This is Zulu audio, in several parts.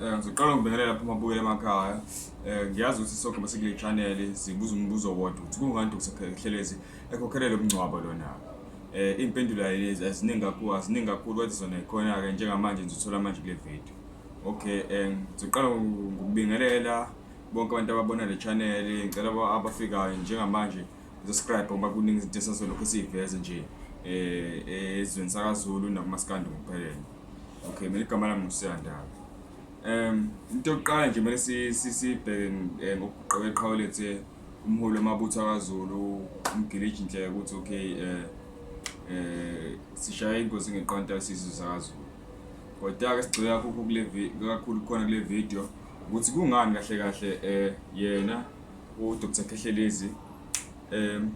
Eh, ngizoqala ngibekele lapho umabukeli emakhaya eh, ngiyazi ukuthi sonke basekule channel sibuza umbuzo wodwa ukuthi kungani Dr Khelezi ekhokhelele umngcwabo lona eh impendulo ayilezi aziningi kakhulu aziningi kakhulu kodwa zona ikhona ke njengamanje ngizothola manje kule video okay eh, ngizoqala ngokubingelela bonke abantu ababona le channel ngicela abafikayo njengamanje Subscribe ngoba kuningi izinto esasolokhu siyiveze nje eh, eh ezweni sakaZulu nakumaskandi ngokuphelele. Okay, mina igama lami ngusiyandaba. Um into yokuqala nje kumele sibheke eh, ngokuqoka iqhawe lethu eh, umholi wamabutho akaZulu umgiliji inhleke ukuthi okay eh eh sishaya ingozi ngeqonta isizwe sakaZulu. Kodwa-ke sigxila kakhulu kule kakhulu khona kule video ukuthi kungani kahle kahle eh yena uDr Khehlelezi um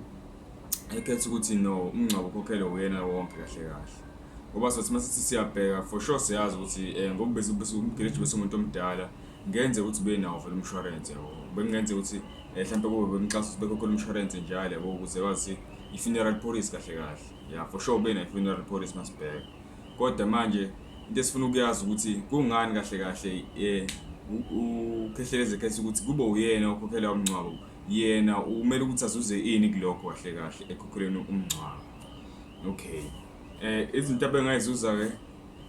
ekhetha ukuthi no umngcwabo ukhokhelwe uyena wonke kahle kahle ngoba sothi uma sithi siyabheka for sure siyazi ukuthi um ngokubeumgeleji besumuntu omdala ngenze ukuthi benawo vele umshwarense yabo bengenze ukuthi eh, mhlawumpe kube bemxhasa ukuthi bekhokhela umshwarense njalo yabo ukuze kwazi i-funeral policy kahle kahle ya for sure benayo i-funeral policy masibheka Kodwa manje into esifuna ukuyazi ukuthi kungani kahle kahle eh ukhehleleze khetha ukuthi kube uyena okhokhela umngcwabo yena umele ukuthi azuze ini kulokho kahle kahle ekhokheleni umngcwabo okay eh izinto abengayizuza ke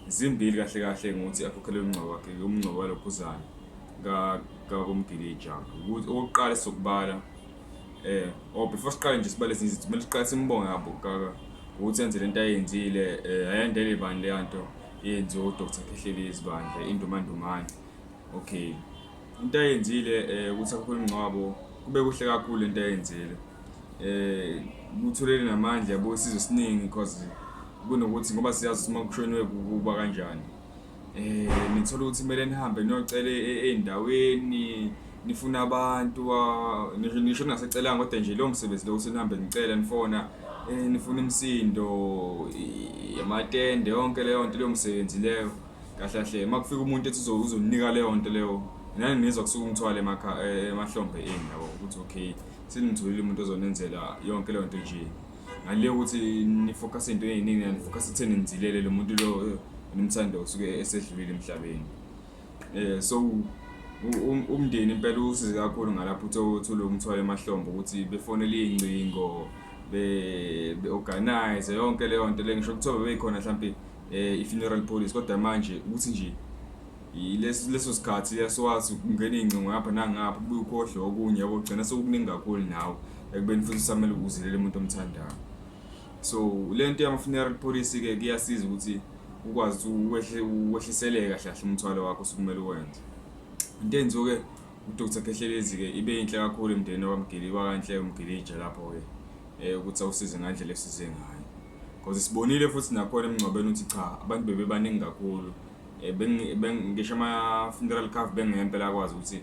zimbili kahle kahle ngokuthi akhokhele umngcwabo wakhe umngcwabo walokhuzana ka kakomgilija ukuthi okokuqala sokubala eh oh before siqale nje sibale ezinye izinto kumele siqale simbonge abo kaka ukuthi enze lento ayenzile eh ayendele ibani leya nto yenziwe uDr Khehlelezi bandla indumandumane okay into ayenzile eh ukuthi akho ingcwabo kube kuhle kakhulu lento ayenzile eh kutholele namandla yabo isizwe siningi because kunokuthi ngoba siyazi uma kushoniwe kuba kanjani eh nithola ukuthi kumele nihambe niyocela ezindaweni e, e, nifuna abantu ngisho ngisho ningasecelanga kodwa nje lo msebenzi lo ukuthi nihambe nicela nifona eh nifuna imsindo yamatende yonke leyo nto leyo msebenzi leyo kahle kahle makufika umuntu ethi uzonika leyo nto leyo nani nizwa kusuka umthwale emahlombe eni yabo ukuthi okay sinimtholile umuntu ozonenzela yonke leyo nto nje ngale ukuthi nifocus into eyiningi and focus itheni nizilele lo muntu lo eh, nimthanda usuke esedlulile emhlabeni eh so umndeni impela usize kakhulu ngalapho uthole umthwalo emahlombe ukuthi befonele ingcingo be organize yonke leyo nto le ngisho kuthiwa bebeyikhona mhlambe eh, i funeral police kodwa manje ukuthi nje Yileso leso sikhathi yasiwazi ukungena iy'ngcingo ngapha nangapha ubuye ukhohlwe okunye yabo ugcina sekukuningi kakhulu nawe ekubeni futhi usamele ukuzilela umuntu omthandayo so le nto yama-funeral policy-ke kuyasiza ukuthi ukwazi ukuthi wehliseleke kahle kahle umthwalo wakho osukumele uwenze into enziwe-ke udr khehlelezi-ke ibe yinhle kakhulu emndenini wakamgili wakanhle umgilija lapho-ke um ukuthi awusize ngandlela esize ngayo Because sibonile futhi nakhona emngcwabeni ukuthi cha abantu bebebaningi kakhulu. Eh, bengi- beng- Ngisho ama-funeral cover bengeke impela akwazi ukuthi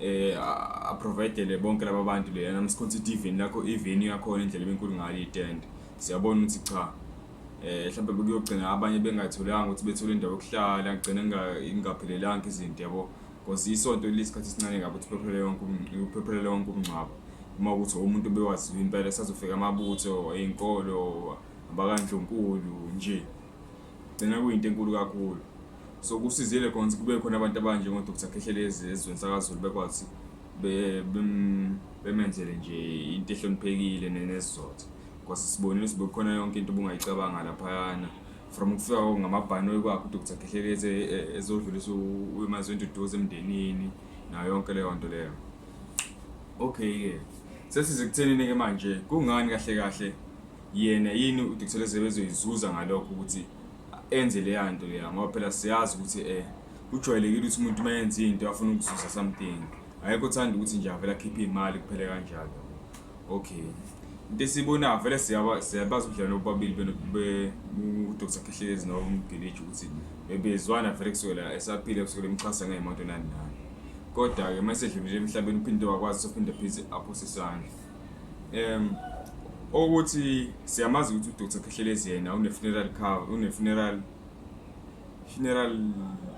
eh, a- aprovidele bonke laba bantu leyana msikhonsa ithi iveni lakho iveni yakhona indlela ebenkulu ngayo itende siyabona ukuthi cha eh mhlawumbe bekuyogcina abanye bengatholanga ukuthi bethole indawo yokuhlala ngigcine inga- ingaphelelanga izinto yabo Because isonto lisikhathi esincane kabi ukuthi phephelele wonke uphephelele wonke umngcwabo. Uma ukuthi umuntu obewaziwa impela esazofika amabutho eyinkolo abakandlunkulu nje. Gcina kuyinto enkulu kakhulu. So kusizile khona ukuthi kube khona abantu abanje ngo Dr. Khehlelezi ezweni sakaZulu bekwazi be- bem- bemenzele nje into ehloniphekile ne- nesizotha. Because sibonile ukuthi bekukhona yonke into obungayicabanga laphayana. from ukufika kwako ngamabhanoyi kwakho udr khehlelezi e, e, ezodlulisa emazweni duduza emndenini nayo yonke leyo nto leyo okay-ke sesize kuthenini-ke manje kungani kahle kahle yena yini udr khehlelezi ebezoyizuza ngalokho ukuthi enze leya nto leya ngoba phela siyazi ukuthi um kujwayelekile ukuthi umuntu uma yenza into afuna ukuzuza something ayekho thanda ukuthi nje avele akhiphe imali kuphele kanjalo okay into esiyibonayo vele siyaba- siyabazi ubudlelwane bobabili beno- be- u- udr khehlelezi nomgiliji ukuthi bebezwana vele kusukela esaphile kusukela emxhasa ngeyimoto nani nani kodwa-ke uma esedlulile emhlabeni uphinde wakwazi sophinde pheze aphose isandla um okuthi siyamazi ukuthi udr khehlelezi yena une-funeral cover une-funeral Funeral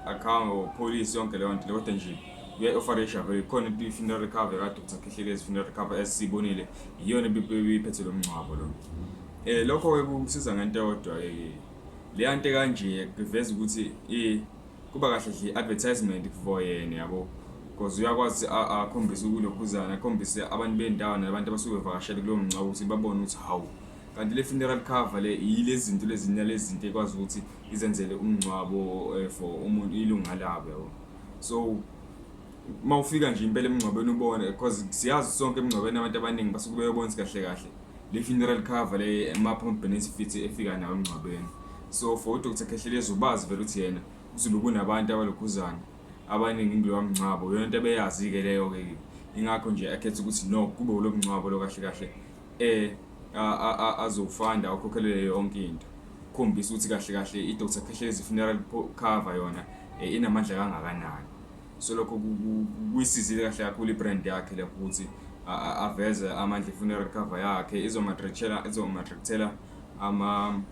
account or police yonke leyo nto kodwa nje uya-ofarisha vele khona i-funeral recovery kade ukuthi akhehlelezi funeral recovery esiyibonile iyona ibiphethe lo mngcwabo lo um lokho-ke kumsiza ngento yodwa um leya nto kanje kuveza ukuthi um kuba kahle nje i-advertisement for yena yabo because uyakwazi akhombise ukulokhuzana akhombise abantu bendawo nabantu abasuke bevakashele kulowo mngcwabo ukuthi babone ukuthi hawu kanti le funeral cover le yile zinto lezinyalezinto ekwazi ukuthi izenzele umngcwabo eh, for umuntu ilunga labo yabo so uma ufika nje impela emngcwabeni ubone because siyazi sonke emngcwabeni abantu abaningi basuke beyobona kahle kahle le funeral cover le ama-pump benefits efika nawo emngcwabeni so for udr khehlelezi ubazi vele ukuthi yena kuzulu kunabantu abalokhuzana abaningi kulowa mngcwabo yona into ebeyazi-ke leyo-ke ingakho nje akhetha ukuthi no kube ulo mngcwabo lo kahle kahle eh azofanda akhokhelele yonke into khombisa ukuthi kahle kahle i-dr phehlezi funeral cover yona eh, inamandla kangakanani so lokho kuyisizile kahle kakhulu i-brand yakhe lapho ukuthi aveze amandla i-funeral cover yakhe izomatrictela izomatrictela ama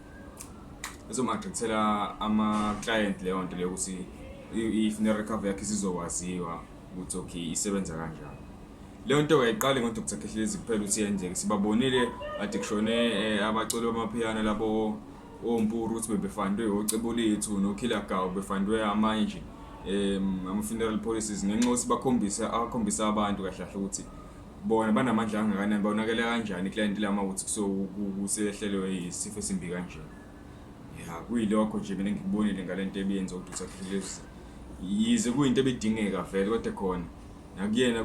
izomatrictela ama-client leyo nto leyo ukuthi i-funeral cover yakhe isizowaziwa ukuthi okay isebenza kanjani leyo nto kayiqali ngo-dr khehlezi kuphela ukuthi yenzeke sibabonile ade kushone eh, abaculi bamaphiyana labo ompuru ukuthi bebefandwe ocebulethu nokhilagaw befandwe amanye nje um ama-funeral policies ngenxa yokuthi bakhombisa akhombisa abantu kahle kahle ukuthi bona banamandla angakanani bonakele kanjani iklayenti lama ukuthi kusehlelwe yisifo esimbi kanjena ya kuyilokho nje mina ngikubonile ngale nto ebiyenza ukuthi usaphilelezi yize kuyinto ebidingeka vele kodwa khona nakuyena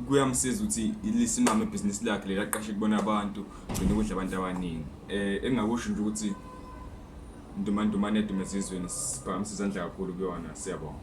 kuyamsiza ukuthi lisimame ibhizinisi lakhe leli aqashe kubona abantu gcina ukudla abantu abaningi um engingakusho nje ukuthi ndumandumane edumezizweni siphakamisa izandla kakhulu kuyona siyabonga